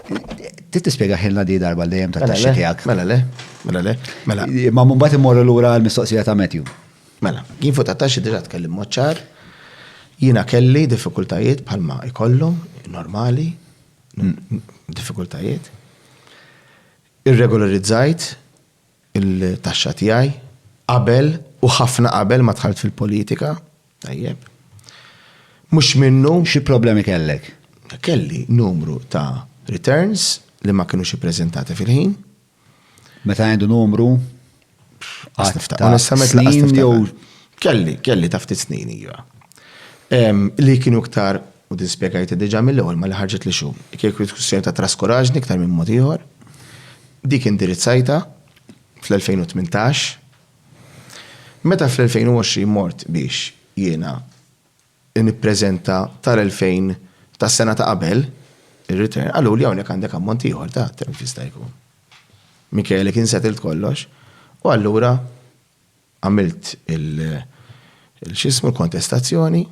Trid tispjega ħilna di darba li hemm tat-taxxi tiegħek. Mela le, mela le, mela. Ma mbagħad immorru lura l-mistoqsija ta' Matthew. Mela, jien fuq tat-taxxi diġà tkellim mod ċar. Jiena kelli diffikultajiet bħalma jkollu, normali, diffikultajiet. Irregolarizzajt il-taxxa tiegħi qabel u ħafna qabel ma dħalt fil-politika. Tajjeb. Mhux minnu. Xi problemi kellek? Kelli numru ta' returns li ma kienux ippreżentati fil-ħin. Meta għandu numru? Onestament, snin jew. Kelli, kelli ta' ftit snin iva. Li kienu iktar, u din spjegajti diġà mill-ewwel ma li ħarġet li xum. Kieku diskussjoni ta' traskuraġni iktar minn mod ieħor. Dik indirizzajtha fl-2018. Meta fl-2020 mort biex jiena nippreżenta tal-2000 tas-sena ta' qabel ir-return, qaluli hawnhekk għandek ammont ieħor ta' telf jista' jkun. Minkejja li kien settled kollox, u allura Għamilt il-x'ismu l-kontestazzjoni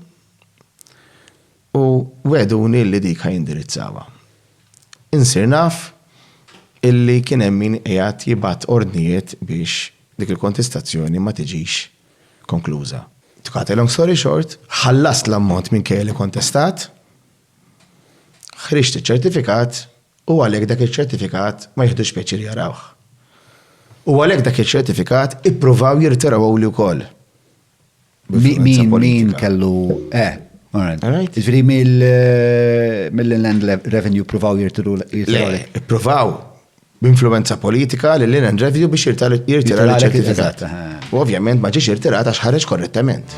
u wegħduni li dik ħa jindirizzawha. Insir naf illi kien hemm min qiegħed jibgħat ordnijiet biex dik il-kontestazzjoni ma tiġix konkluża. To cut a long story short, ħallast l-ammont minkejja li kontestat Ħriġt iċ-ċertifikat u għalhekk dak iċ-ċertifikat ma jiħdux pjaċir jarawh. U għalhekk dak iċ-ċertifikat ippruvaw jirtirawhuli wkoll. Min kellu eh, Ġifieri mill-Inland Revenue provaw jirtiru. Provaw, b'influwenza politika lil Lynn Andreviu biex jirtira l-ċertifikat. U ovvjament ma ġiex irtirat għax ħareġ korrettament.